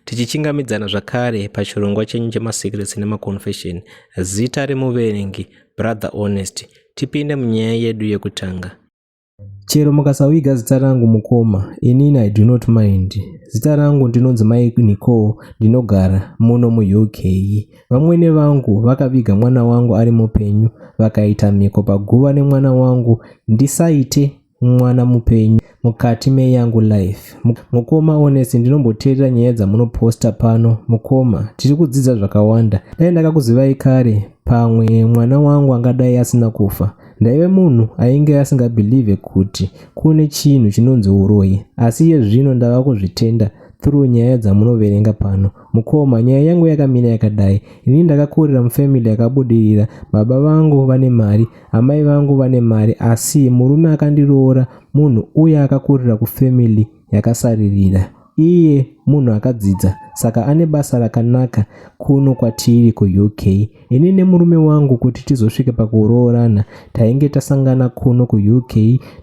Tichichingamidzana zvakare pachirongwa chenyu chemaSecrets nemaConfession, zita remuverengi, Brother Honest, tipinde munyaya yedu yekutanga. Chero mukasaviga zita rangu mukoma, inini I do not mind. Zita rangu ndinonzi Mai Nicole, ndinogara muno muUK. Vamwene vangu vakaviga mwana wangu ari mupenyu, vakaita mhiko paguva nemwana wangu ndisaite mwana mupenyu mukati meyangu life mukoma honest ndinomboteerera nyaya dzamunoposta pano mukoma tiri kudzidza zvakawanda dai ndakakuzivai kare pamwe mwana wangu angadai asina kufa ndaive munhu ainge asingabhilivhe kuti kune chinhu chinonzi uroyi asi iye zvino ndava kuzvitenda through nyaya dzamunoverenga pano Mukoma, nyaya yangu yakamira yakadai. Ini ndakakurira mufamily yakabudirira. Baba vangu vane mari, amai vangu vane mari asi murume akandiroora munhu uye akakurira kufamily yakasaririra. Iye munhu akadzidza saka ane basa rakanaka kuno kwatiri kuUK. Ini nemurume wangu kuti tizosvike pakuroorana tainge tasangana kuno kuUK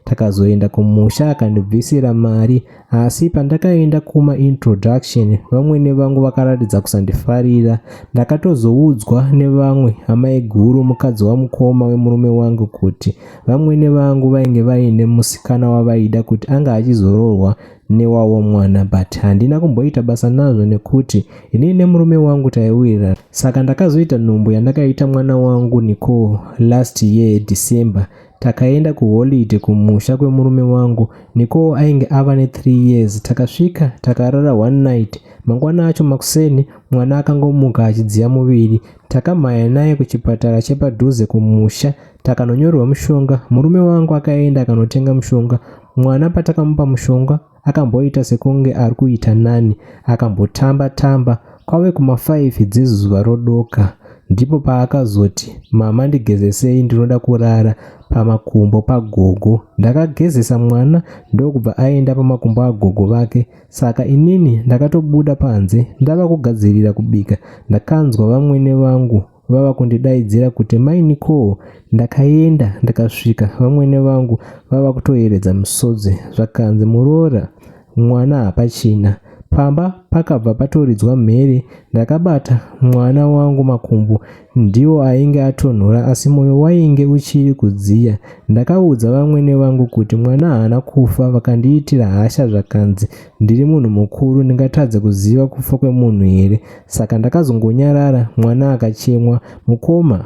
takazoenda kumusha akandibvisira mari Asi pandakaenda kuma introduction vamwene vangu vakaratidza kusandifarira. Ndakatozoudzwa nevamwe amaiguru mukadzi wamukoma wemurume wangu kuti vamwene vangu vainge vaine musikana wavaida kuti anga achizoroorwa newavo mwana but handina kumboita basa nazvo nekuti inini nemurume wangu taiwirirana. Saka ndakazoita nhumbu yandakaita mwana wangu Nicole last year December Takaenda kuholiday kumusha kwemurume wangu Nicole ainge ava ne 3 years. Takasvika takarara one night. Mangwana acho makuseni mwana akangomuka achidziya muviri. Takamhanya naye kuchipatara chepadhuze kumusha takanonyorerwa mushonga. Murume wangu akaenda akanotenga mushonga. Mwana patakamupa mushonga akamboita sekunge ari kuita nani akambotamba tamba kwave kumafaifi dzezuva rodoka ndipo paakazoti mama ndigezesei ndinoda kurara pamakumbo pagogo ndakagezesa mwana ndokubva aenda pamakumbo agogo vake saka inini ndakatobuda panze ndava kugadzirira kubika ndakanzwa vamwene vangu vava kundidaidzira kuti mai Nicole ndakaenda ndakasvika vamwene vangu vava kutoyeredza misodzi zvakanzi muroora mwana hapachina pamba pakabva patoridzwa mhere ndakabata mwana wangu makumbo ndiwo ainge atonhora asi moyo wainge uchiri kudziya ndakaudza vamwene vangu kuti mwana haana kufa vakandiitira hasha zvakanzi Ndiri munhu mukuru ndingatadze kuziva kufa kwemunhu here saka ndakazongonyarara mwana akachemwa mukoma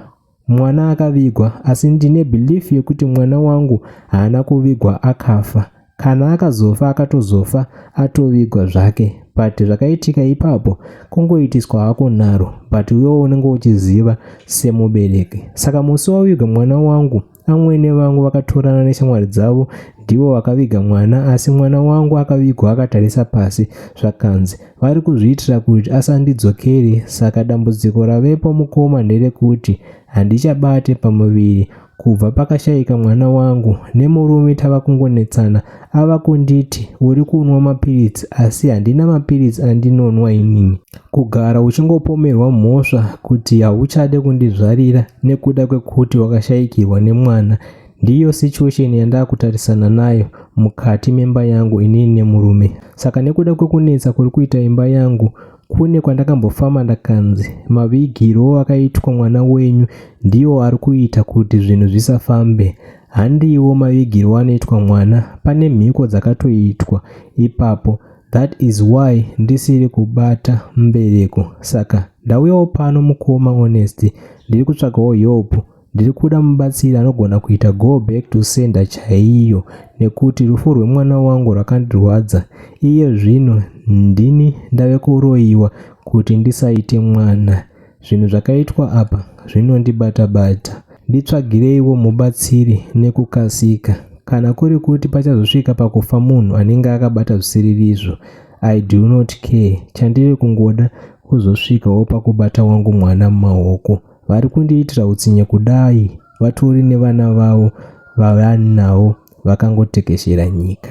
mwana akavigwa asi ndine belief yekuti mwana wangu haana kuvigwa akafa kana akazofa akatozofa atovigwa zvake but zvakaitika ipapo kungoitiswa hako nharo but iwewo unenge uchiziva semubereki saka musi wavigwa mwana wangu Amwene vangu vakatorana neshamwari dzavo ndivo vakaviga mwana asi mwana wangu akavigwa akatarisa pasi zvakanzi vari kuzviitira kuti asandidzokeri saka dambudziko ravepo mukoma nderekuti handichabate pamuviri kubva pakashaika mwana wangu nemurume tava kungonetsana ava kunditi uri kunwa mapiritsi asi handina mapiritsi andinonwa inini kugara uchingopomerwa mhosva kuti hauchade kundizvarira nekuda kwekuti wakashayikirwa nemwana ndiyo situation yandakutarisana nayo mukati memba yangu inini nemurume saka nekuda kwekunetsa kuri kuita imba yangu kune kwandakambofamba ndakanzi mavigiro akaitwa mwana wenyu ndiwo ari kuita kuti zvinhu zvisafambe Handiwo mavigirwo anoitwa mwana pane mhiko dzakatoitwa ipapo that is why ndisiri kubata mbereko saka ndauyawo pano mukoma honest ndiri kutsvagawo help ndiri kuda mubatsiri anogona kuita go back to sender chaiyo nekuti rufu rwemwana wangu rwakandirwadza iye zvino ndini ndave kuroyiwa kuti ndisaite mwana Zvinhu zvakaitwa apa zvinondibata bata. Nditsvagireiwo mubatsiri nekukasika. Kana kuri kuti pachazosvika pakufa munhu anenge akabata zvisiririzvo, I do not care. Chandiri kungoda kuzosvikawo pakubata wangu mwana mumaoko. Vari kundiitira utsinye kudai vatori nevana vavo vavanawo vakangotekeshera nyika.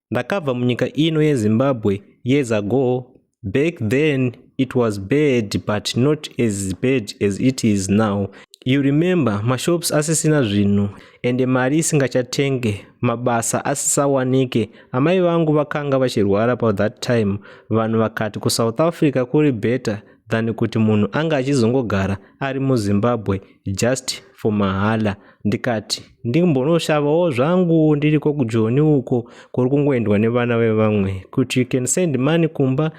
ndakabva munyika ino yezimbabwe years ago back then it was bad but not as bad as it is now you remember mashops asisina zvinhu ende mari isingachatenge mabasa asisawanike amai vangu vakanga vachirwara pa that time vanhu vakati kusouth africa kuri better than kuti munhu anga achizongogara ari muzimbabwe just for mahala ndikati ndimbonoshavawo zvangu ndiriko kujoni uko kuri kungoendwa nevana vevamwe kuti you can send money kumba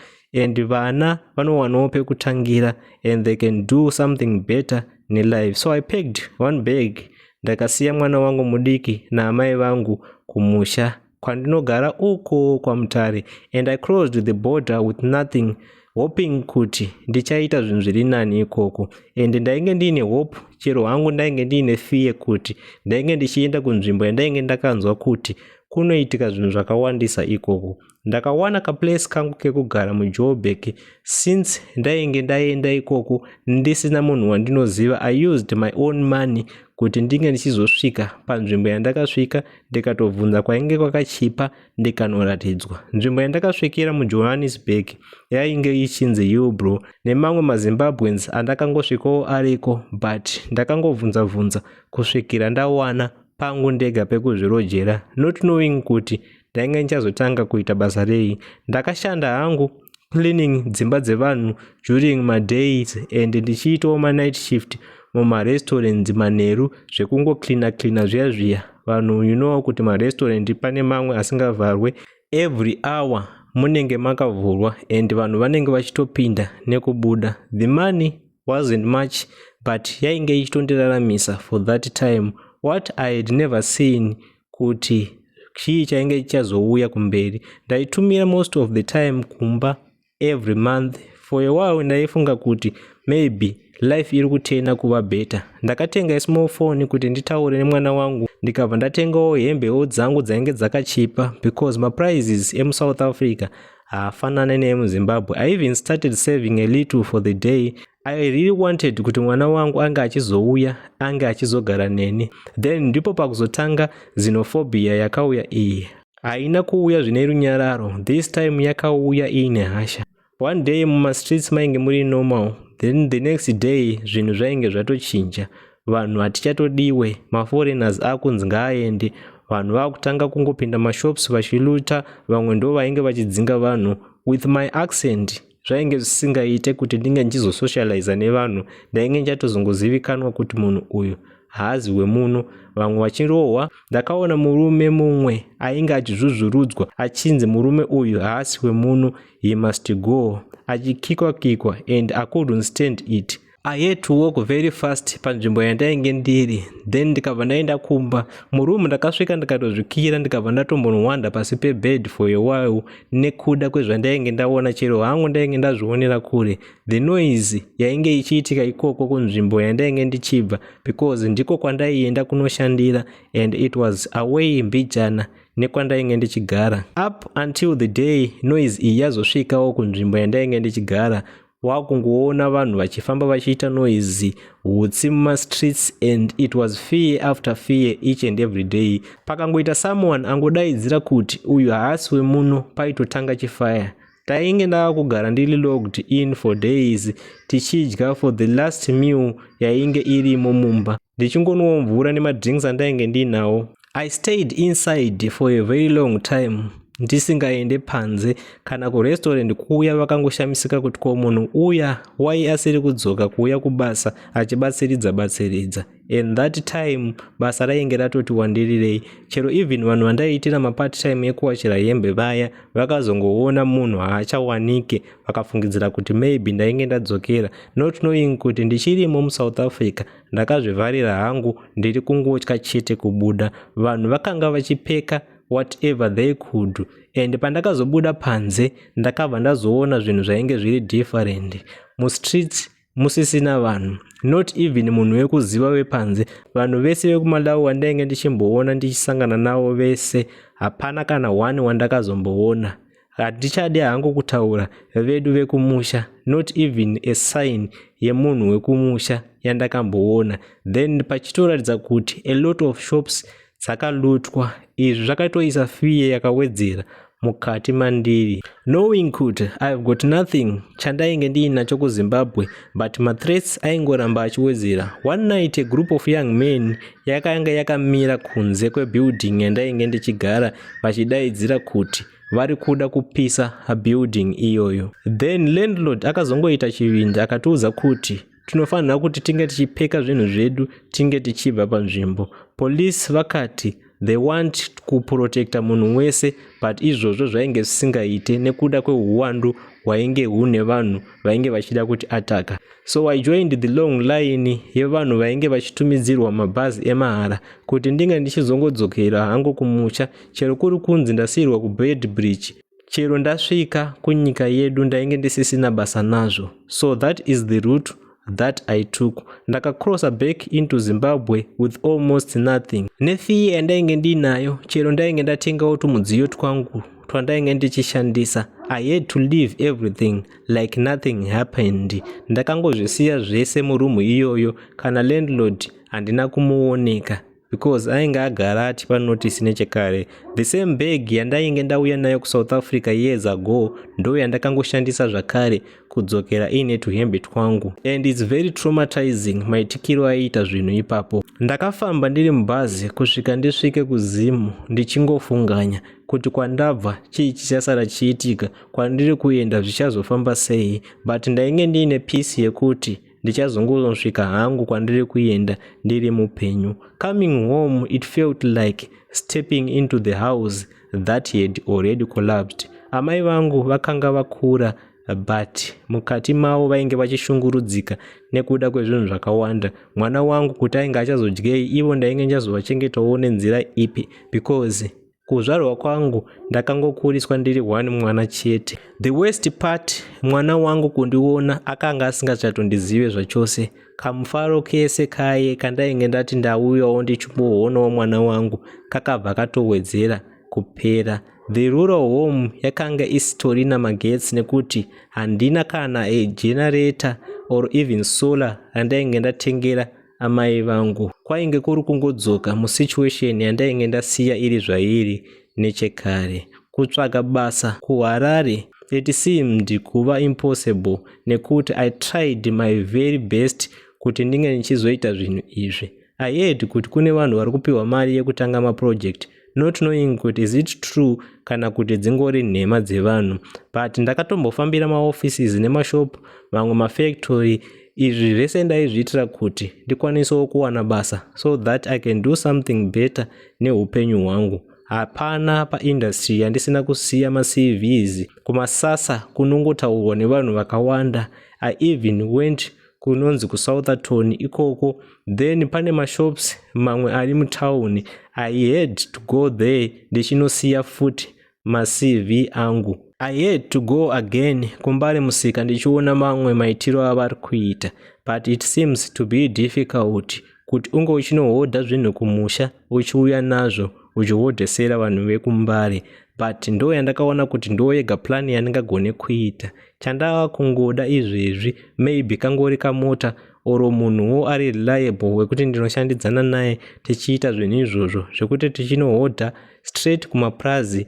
and vana vanowanawo pekutangira and they can do something better nelife so i packed one bag ndakasiya mwana wangu mudiki naamai vangu kumusha kwandinogara uko kwamutare and i closed the border with nothing hoping kuti ndichaita zvinhu zviri nani ikoko and ndainge ndiine hope chero hangu ndainge ndiine fear kuti ndainge ndichienda kunzvimbo yandainge ndakanzwa kuti kunoitika zvinhu zvakawandisa ikoko ndakawana kaplace kangu kekugara mujoburg since ndainge ndaenda ikoko ndisina munhu wandinoziva i used my own money kuti ndinge ndichizosvika panzvimbo yandakasvika ndikatobvunza kwainge kwakachipa ndikanoratidzwa nzvimbo yandakasvikira mujohannesburg yainge ichinzi yubro nemamwe mazimbabweans andakangosvikawo ariko but ndakangobvunza bvunza kusvikira ndawana pangu ndega pekuzvirojera not knowing kuti ndainge ndichazotanga kuita basa rei ndakashanda hangu cleaning dzimba dzevanhu during madays and ndichiitawo manight shift mumarestaurants manheru zvekungocleana cleana zviya zviya vanhu you know kuti marestaurant pane mamwe asingavharwe every hour munenge makavhurwa and vanhu vanenge vachitopinda nekubuda the money wasn't much but yainge ichitondiraramisa for that time what i had never seen kuti chii chainge chichazouya kumberi ndaitumira most of the time kumba every month for a while ndaifunga kuti maybe life iri kutena kuva better ndakatenga ismall phone kuti nditaure nemwana wangu ndikabva ndatengawo hembewo dzangu dzainge dzakachipa because maprices emusouth africa haafanane neemuzimbabwe i even started saving a little for the day I really wanted kuti mwana wangu ange achizouya ange achizogara neni then ndipo pakuzotanga xenophobia yakauya iyi haina kuuya zvine runyararo this time yakauya iine hasha one day mumastreets mainge muri normal then the next day zvinhu zvainge zvatochinja vanhu hatichatodiwe maforeigners akunzi ngaaende vanhu vakutanga kungopinda mashops vachiluta vamwe ndo vainge vachidzinga vanhu with my accent zvainge zvisingaite kuti ndinge ndichizosocializa nevanhu ndainge ndichatozongozivikanwa kuti munhu uyu haazi wemuno vamwe vachirohwa ndakaona murume mumwe ainge achizvuzvurudzwa achinzi murume uyu haasi wemuno he must go achikikwa kikwa and i couldn't stand it I had to walk very fast panzvimbo yandainge ndiri then ndikabva ndaenda kumba muroom ndakasvika ndikatozvikira ndikabva ndatombonowanda pasi pebed for a while nekuda kwezvandainge ndaona chero hangu ndainge ndazvionera kure the noise yainge ichiitika ikoko kunzvimbo yandainge ndichibva because ndiko kwandaienda kunoshandira and it was away mbijana nekwandainge ndichigara up until the day noise iyi yazosvikawo kunzvimbo yandainge ndichigara wakungoona vanhu vachifamba vachiita noise hutsi mumastreets and it was fear after fear each and every day pakangoita someone angodaidzira kuti uyu haasi wemuno paitotanga chifaya tainge ndava kugara ndiri logged in for days tichidya for the last meal yainge irimo mumba ndichingonwa mvura nemadrinks andainge ndiinawo I stayed inside for a very long time ndisingaende panze kana kurestaurant kuuya vakangoshamisika kuti ko munhu uya wai asiri kudzoka kuuya kubasa achibatsiridza batsiridza and that time basa rainge ratoti wandirirei chero even vanhu vandaiitira mapart time ekuwachira hembe vaya vakazongoona munhu haachawanike vakafungidzira kuti maybe ndainge ndadzokera not knowing kuti ndichirimo musouth africa ndakazvivharira hangu ndiri kungotya chete kubuda vanhu vakanga vachipeka whatever they could do and pandakazobuda panze ndakabva ndazoona zvinhu zvainge zviri different mustreets musisina vanhu not even munhu wekuziva wepanze vanhu vese vekumalawi wandainge ndichimboona ndichisangana navo vese hapana kana one wandakazomboona Hatichadi hangu kutaura vedu vekumusha not even a sign yemunhu wekumusha yandakamboona then pachitoratidza kuti a lot of shops dzakalutwa izvi zvakatoisa fear yakawedzera mukati mandiri knowing kuti ihave got nothing chandainge ndiinacho kuzimbabwe but mathreats aingoramba achiwedzera one night a group of young men yakanga yakamira kunze kwebuilding yandainge ndichigara vachidaidzira kuti vari kuda kupisa building iyoyo then landlord akazongoita chivindi akatiudza kuti tinofanira kuti tinge tichipeka zvinhu zvedu tinge tichibva panzvimbo police vakati they want kuprotecta munhu wese but izvozvo zvainge zvisingaite nekuda kwehuwandu hwainge hune vanhu vainge vachida kuti ataka so i joined the long line yevanhu vainge vachitumidzirwa mabhazi emahara kuti ndinge ndichizongodzokera hangu kumusha chero kuri kunzi ndasiyirwa kubed bridge chero ndasvika kunyika yedu ndainge ndisisina basa nazvo so that is the root that I took. Ndakacrossa back into Zimbabwe with almost nothing. Nefiye yandainge ndiinayo, chero ndainge ndatengawo tumudziyo twangu twandainge ndichishandisa. I had to leave everything like nothing happened. Ndakangozvisiya zvese murumu iyoyo, kana landlord handina kumuoneka. because ainge agara atipa notice nechekare the same bag yandainge ndauya nayo kusouth africa years ago ndo yandakangoshandisa zvakare kudzokera iine tuhembe twangu and its very traumatizing maitikiro aiita zvinhu ipapo ndakafamba ndiri mubhazi kusvika ndisvike kuzimu ndichingofunganya kuti kwandabva chii chichasara chiitika kwandiri kuenda zvichazofamba sei but ndainge ndiine pisi yekuti ndichazongosvika hangu kwandiri kuenda ndiri mupenyu coming home it felt like stepping into the house that had already collapsed amai vangu vakanga vakura but mukati mavo vainge vachishungurudzika nekuda kwezvinhu zvakawanda mwana wangu kuti ainge achazodyei ivo ndainge ndazovachengetawo nenzira ipi because kuzvarwa kwangu ndakangokuriswa ndiri one mwana chete the worst part mwana wangu kundiona akanga asingachatondizive zvachose kamufaro kese kaye kandainge ndati ndauyawo ndichimbohoonawo mwana wangu kakabva katowedzera kupera the rural home yakanga isitorina magetsi nekuti handina kana egenerator or even solar randainge ndatengera amai vangu kwainge kuri kungodzoka musituation yandainge ndasiya iri zvairi nechekare kutsvaga basa kuharare it seemed kuva impossible nekuti i tried my very best kuti ndinge ndichizoita zvinhu izvi i heard kuti kune vanhu vari kupiwa mari yekutanga maproject not knowing kuti is it true kana kuti dzingori nhema dzevanhu but ndakatombofambira maoffices nemashop mamwe mafactory izvi zvese ndaizviitira kuti ndikwanisewo kuwana basa so that i can do something better neupenyu hwangu hapana paindustry yandisina kusiya macvs kumasasa kunongotaurwa nevanhu vakawanda i even went kunonzi kusoutherton ikoko then pane mashops mamwe ari mutown i had to go there ndichinosiya futi macv angu i had to go again kumbare musika ndichiona mamwe maitiro avari kuita but it seems to be difficult kuti unge uchinohodha zvinhu kumusha uchiuya nazvo uchihodhesera vanhu vekumbare but ndo yandakaona kuti ndo yega plan yandingagone kuita chandava kungoda izvezvi maybe kangori kamota oro munhuwo ari reliable wekuti ndinoshandidzana naye tichiita zvinhu izvozvo zvekuti tichinohodha straight kumapurazi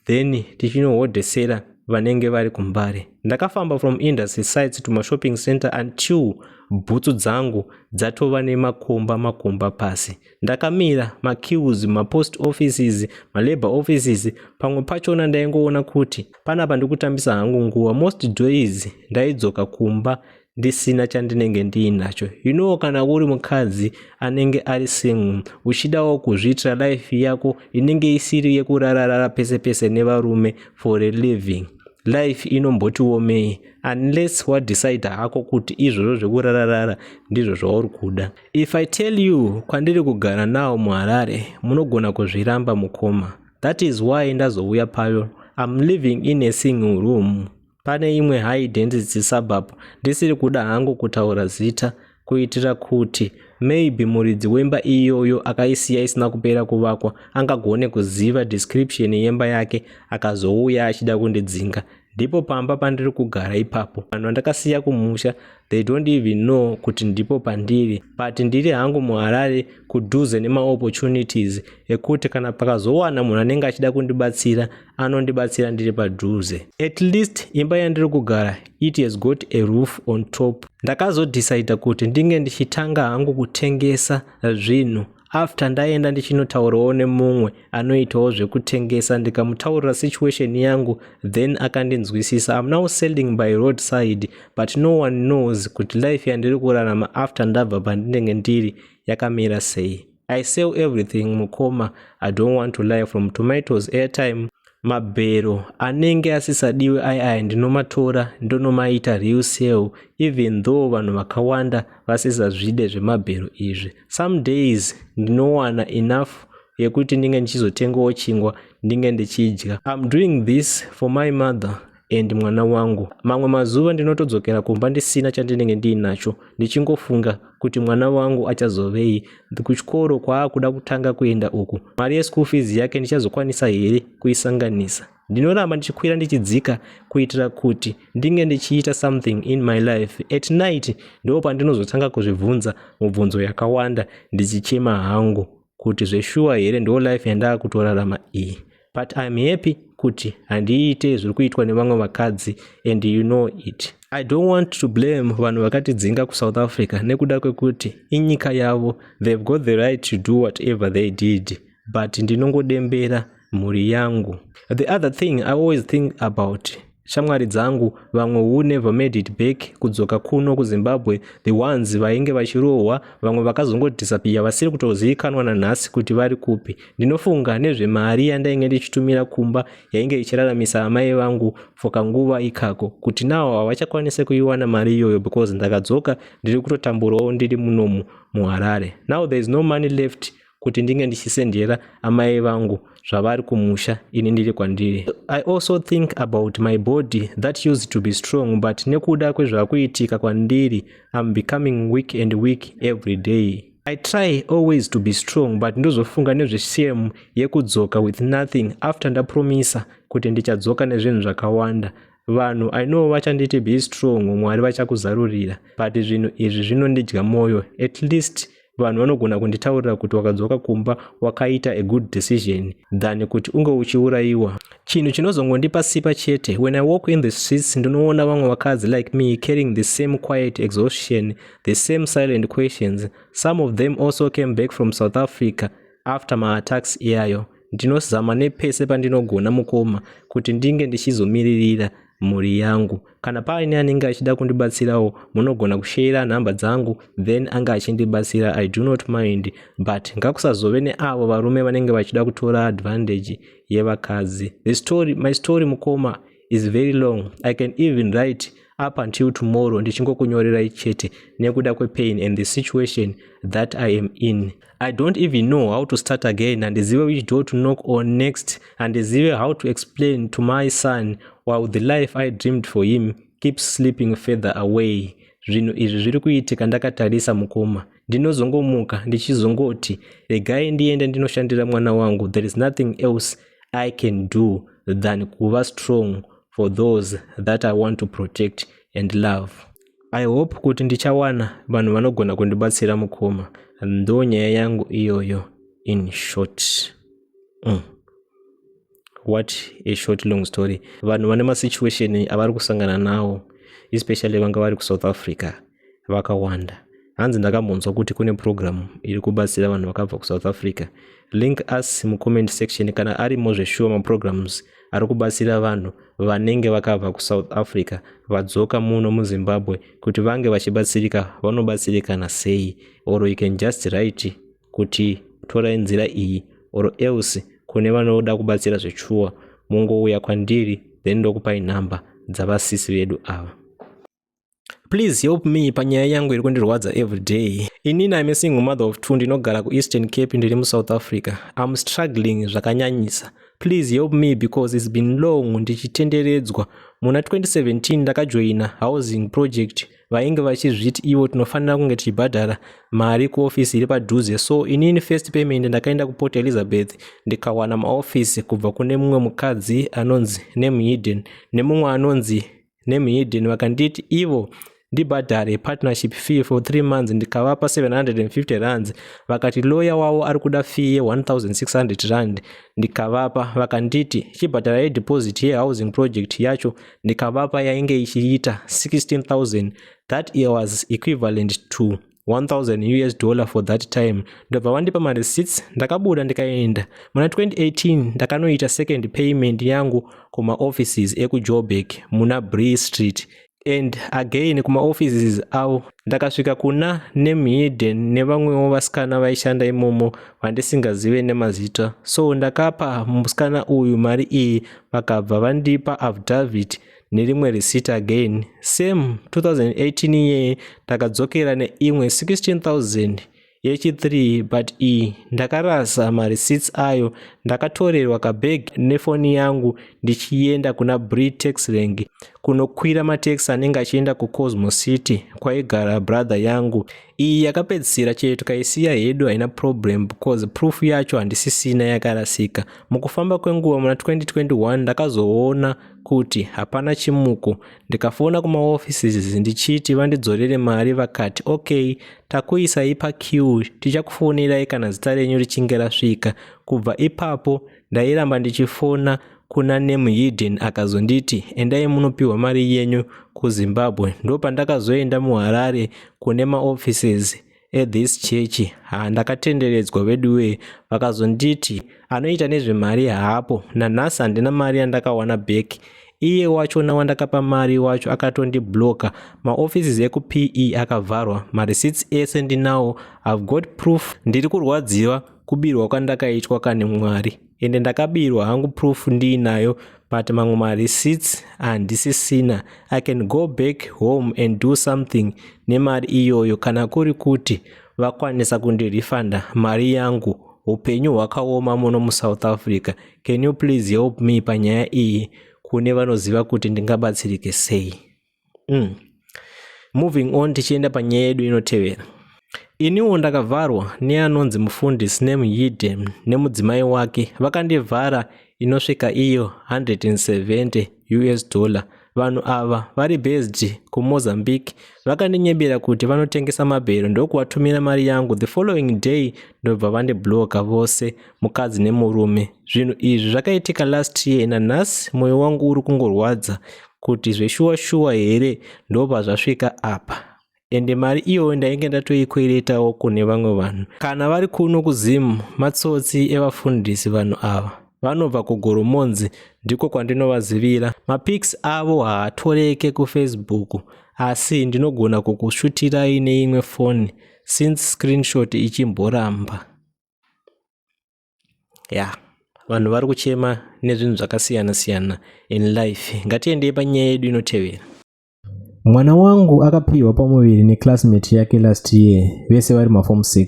then tichinohodhesera vanenge vari kumbare ndakafamba from industry sites to mashopping center until bhutsu dzangu dzatova nemakomba makomba pasi ndakamira maquews mapost offices malabour offices pamwe pachona ndaingoona kuti panapa ndikutambisa hangu nguva most days ndaidzoka kumba ndisina chandinenge ndiinacho you know kana uri mukadzi anenge ari single uchidawo kuzviitira life yako inenge isiri yekurararara pese pese nevarume for a living life inombotiomei unless wadecide hako kuti izvozvo zvekurararara ndizvo zvauri kuda if i tell you kwandiri kugara nawo muharare munogona kuzviramba mukoma that is why ndazouya payo im living in a single room Pane imwe high density suburb, ndisiri kuda hangu kutaura zita kuitira kuti maybe muridzi wemba iyoyo akaisiya isina kupera kuvakwa angagone kuziva description yemba yake akazouya achida kundidzinga ndipo pamba pandiri kugara ipapo vanhu vandakasiya kumusha they don't even know kuti ndipo pandiri but ndiri hangu muharare kudhuze nemaopportunities ekuti kana pakazowana munhu anenge achida kundibatsira anondibatsira ndiri padhuze at least imba yandiri kugara it has got a roof on top ndakazodhisaidha kuti ndinge ndichitanga hangu kutengesa zvinhu after ndaenda ndichinotaurawo nemumwe anoitawo zvekutengesa ndikamutaurira situation yangu then akandinzwisisa am now selling by road side but no one knows kuti life yandiri kurarama after ndabva pandinenge ndiri yakamira sei I sell everything mukoma, I don't want to lie from tomatoes airtime mabhero anenge asisadiwe ayi aya ndinomatora ndonomaita real sale even though vanhu vakawanda vasisazvide zvemabhero izvi some days ndinowana enough yekuti ndinge ndichizotengawo chingwa ndinge ndichidya im doing this for my mother and mwana wangu mamwe mazuva ndinotodzokera kumba ndisina chandinenge ndiinacho ndichingofunga kuti mwana wangu achazovei kuchikoro kwaakuda kutanga kuenda uku mari yeschool fees yake ndichazokwanisa here kuisanganisa ndinoramba ndichikwira ndichidzika kuitira kuti ndinge ndichiita something in my life at night ndo pandinozotanga kuzvibvunza mubvunzo yakawanda ndichichema hangu kuti zveshuwa here ndo life yandakutorarama iyi but im happy kuti handiite zviri kuitwa nevamwe vakadzi and you know it i don't want to blame vanhu vakatidzinga kusouth africa nekuda kwekuti inyika yavo they've got the right to do whatever they did but ndinongodembera mhuri yangu the other thing i always think about Shamwari dzangu vamwe who never made it back kudzoka kuno kuZimbabwe the ones vainge vachirohwa vamwe vakazongodhisapiya vasiri kutozivikanwa nanhasi kuti vari kupi. Ndinofunga nezvemari yandainge ndichitumira kumba yainge ichiraramisa amai vangu for kanguva ikako kuti nawo havachakwanise kuiwana mari iyoyo because ndakadzoka ndiri kutotamburawo ndiri munomu muHarare. Now there is no money left kuti ndinge ndichisendera amai vangu zvavari kumusha ini ndiri kwandiri i also think about my body that used to be strong but nekuda kwezvakuitika kwandiri im becoming weak and weak every day i try always to be strong but ndozofunga nezveshame yekudzoka with nothing after ndapromisa kuti ndichadzoka nezvinhu zvakawanda vanhu i know vachanditi be strong mwari vachakuzarurira but zvinhu izvi zvinondidya mwoyo at least vanhu vanogona kunditaurira kuti wakadzoka kumba wakaita a good decision than kuti unge uchiurayiwa chinhu chinozongondipa sipa chete when i walk in the streets ndinoona vamwe vakadzi like me carrying the same quiet exhaustion the same silent questions some of them also came back from south africa after maattacks iyayo ndinozama nepese pandinogona mukoma kuti ndinge ndichizomiririra mhuri yangu kana paine anenge achida kundibatsirawo munogona kusheera nhamba dzangu then anga achindibatsira i do not mind but ngakusazove neavo varume vanenge vachida kutora advantage yevakadzi the story my story mukoma is very long i can even write up until tomorrow ndichingokunyorerai chete nekuda kwepain and the situation that i am in i don't even know how to start again handizive which door to knock on next handizive how to explain to my son while the life i dreamed for him keeps sleeping further away zvinhu izvi zviri kuitika ndakatarisa mukoma ndinozongomuka ndichizongoti regai ndiende ndinoshandira mwana wangu there is nothing else i can do than kuva strong for those that i want to protect and love i hope kuti ndichawana vanhu vanogona kundibatsira mukoma ndo nyaya yangu iyoyo in short mm. what a short long story vanhu vane masituation avari kusangana nawo especially vanga vari kusouth africa vakawanda hanzi ndakambonzwa kuti kune program iri kubatsira vanhu vakabva kusouth africa link us mucomment section kana arimo zveshuwa maprograms ari kubatsira vanhu vanenge vakabva kusouth africa vadzoka muno muzimbabwe kuti vange vachibatsirika vanobatsirikana sei or you can just write kuti torai nzira iyi or else kune vanoda kubatsira zvechuwa mungouya kwandiri then ndokupai nhamba dzavasisi vedu ava please help me panyaya yangu iri kundirwadza everyday inini im single mother of two ndinogara kueastern cape ndiri musouth africa im struggling zvakanyanyisa please help me because its been long ndichitenderedzwa muna 2017 ndakajoina housing project vainge vachizviti ivo tinofanira kunge tichibhadhara mari kuofisi iri padhuze so inini first payment ndakaenda kuport elizabeth ndikawana maofisi kubva kune mumwe mukadzi anonzi nemhiden nemumwe anonzi nemhiden vakanditi ivo ndibhadhare partnership fee for three months ndikavapa 750 rands vakati loya wavo ari kuda fee ye1600 rand ndikavapa vakanditi chibhadhara yedeposit yehousing project yacho ndikavapa yainge ichiita 16000 that year was equivalent to 1000 us dollar for that time ndobva vandipa mareceipts ndakabuda ndikaenda muna 2018 ndakanoita second payment yangu kumaoffices ekujobek muna bree street and again kumaoffices avo ndakasvika kuna nemhiden nevamwewo vasikana vaishanda imomo vandisingazive nemazita so ndakapa musikana uyu mari iyi vakabva vandipa affidavit nerimwe receipt again same 2018 iye ndakadzokera neimwe 16000 yechi3 but iyi ndakarasa mareceipts ayo ndakatorerwa kabag nefoni yangu ndichienda kuna bri tax rank kunokwira matax anenge achienda kucosmo city kwaigara brother yangu iyi yakapedzisira chete tikaisiya hedu haina problem because proof yacho handisisina yakarasika mukufamba kwenguva muna 2021 ndakazoona kuti hapana chimuko ndikafona kumaoffices ndichiti vandidzorere mari vakati okay takuisai paqueue tichakufonerai kana zita renyu richinge rasvika kubva ipapo Ndairamba ndichifona kuna name hidden akazonditi endai munopiwa mari yenyu kuzimbabwe ndopandakazoenda muharare kune maoffices ethis church ha ndakatenderedzwa veduwee vakazonditi anoita nezvemari haapo nanhasi handina mari yandakawana back iye wachona wandakapa mari wacho akatondibloka maoffices ekupee akavharwa marecits ese ndinawo ive got proof ndiri kurwadziwa kubirwa kwandakaitwa kani mwari ende ndakabirwa hangu proof ndiinayo but mamwe mareceipts handisisina i can go back home and do something nemari iyoyo kana kuri kuti vakwanisa kundirefunda mari yangu upenyu hwakaoma muno musouth africa can you please help me panyaya iyi kune vanoziva kuti ndingabatsirike sei mm. moving on tichienda panyaya yedu inotevera iniwo ndakavharwa neanonzi mufundisi nemuhidden nemudzimai wake vakandivhara inosvika iyo 170 us dollar vanhu ava vari based kumozambique vakandinyebera kuti vanotengesa mabhero ndokuvatumira mari yangu the following day ndobva vandibloka vose mukadzi nemurume zvinhu izvi zvakaitika last year nanhasi mwoyo wangu uri kungorwadza kuti zveshuwa shuwa here ndopazvasvika apa ende mari iyoyo ndainge ndatoikweretawo kune vamwe vanhu kana vari kuno kuzimu matsotsi evafundisi vanhu ava vanobva kugoromonzi ndiko kwandinovazivira mapics avo haatoreke kufacebook asi ndinogona kukushutirai neimwe foni since screenshot ichimboramba ya vanhu vari kuchema nezvinhu zvakasiyana siyana in life ngatiendei panyaya yedu inotevera mwana wangu akapiwa pamuviri neclassmate yake last year vese vari mafom 6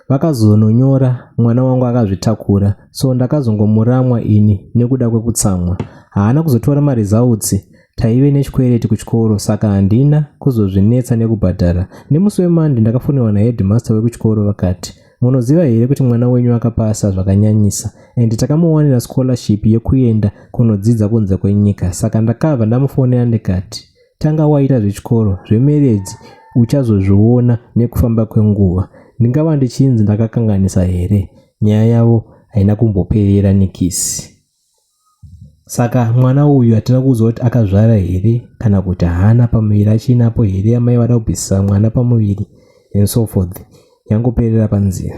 vakazononyora mwana wangu akazvitakura so ndakazongomuramwa ini nekuda kwekutsamwa haana kuzotora maresults taive nechikwereti kuchikoro saka handina kuzozvinetsa nekubhadhara nemusi wemandi ndakafonewa naheadmaster wekuchikoro vakati munoziva here kuti mwana wenyu akapasa zvakanyanyisa and takamuwanira scholarship yekuenda kunodzidza kunze kwenyika saka ndakabva ndamufonera ndikati tanga waita zvechikoro zvemeredzi uchazozviona nekufamba kwenguva ndingava ndichinzi ndakakanganisa here nyaya yavo haina kumboperera nikisi saka mwana uyu hatina kuudzwa kuti akazvara here kana kuti haana pamuviri achiinapo here amai vada kubvisisa mwana pamuviri and so forth yangoperera panzira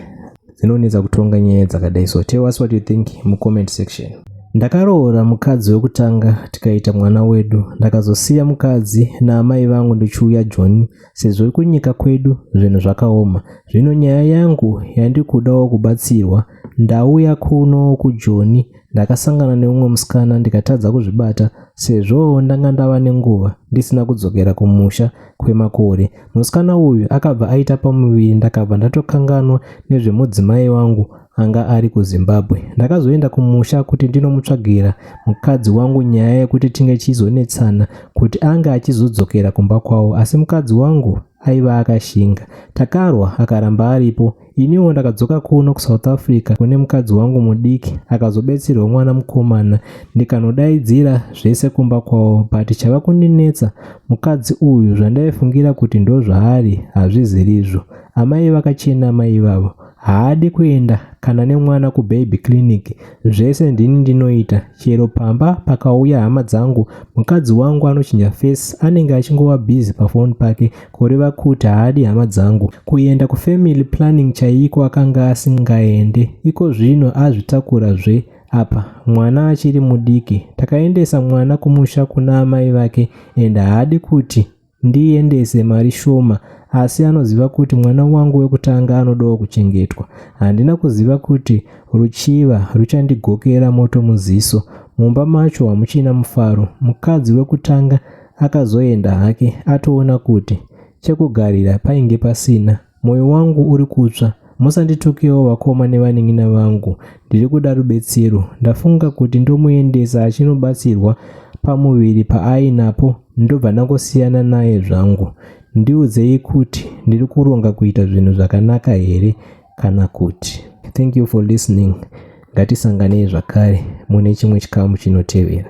dzinonetsa kutonga nyaya dzakadai so tell us what you think mucomment section ndakaroora mukadzi wekutanga tikaita mwana wedu ndakazosiya mukadzi naamai vangu ndichiuya john sezvo kunyika kwedu zvinhu zvakaoma zvino nyaya yangu yandikudawo kubatsirwa ndauya kuno kujoni Ndakasangana neumwe musikana ndikatadza kuzvibata sezvo ndanga ndava nenguva ndisina kudzokera kumusha kwemakore. Musikana uyu akabva aita pamuviri ndakabva ndatokanganwa nezvemudzimai wangu anga ari kuZimbabwe. Ndakazoenda kumusha kuti ndinomutsvagira mukadzi wangu nyaya yekuti tinge tichizonetsana kuti ange achizodzokera kumba kwavo asi mukadzi wangu aiva akashinga takarwa akaramba aripo iniwo ndakadzoka kuno kusouth africa kune mukadzi wangu mudiki akazobetserwa mwana mukomana ndikanodaidzira zvese kumba kwavo but chava kundinetsa mukadzi uyu zvandaifungira kuti ndozvaari hazvizirizvo amai vakachena amai ivavo Haadi kuenda kana nemwana kubaby clinic zvese ndini ndinoita chero pamba pakauya hama dzangu mukadzi wangu anochinja face anenge achingova busy pafoni pake kureva kuti haadi hama dzangu. Kuenda kufamily planning chaiko akanga asingaende iko zvino azvitakura zve apa mwana achiri mudiki. Takaendesa mwana kumusha kuna amai vake and haadi kuti Ndiendese mari shoma asi anoziva kuti mwana wangu wekutanga anodawo kuchengetwa. Handina kuziva kuti ruchiva ruchandigokera moto muziso. Mumba macho hamuchina mufaro. Mukadzi wekutanga akazoenda hake atoona kuti chekugarira painge pasina. Moyo wangu uri kutsva. Musanditukewo vakoma nevanin'ina vangu. Ndiri kuda rubetsero. Ndafunga kuti ndomuendesa achinobatsirwa pamuviri paainapo ndobva ndangosiyana naye zvangu. Ndiudzei kuti ndiri kuronga kuita zvinhu zvakanaka here kana kuti. Thank you for listening. Ngatisanganei zvakare mune chimwe chikamu chinotevera.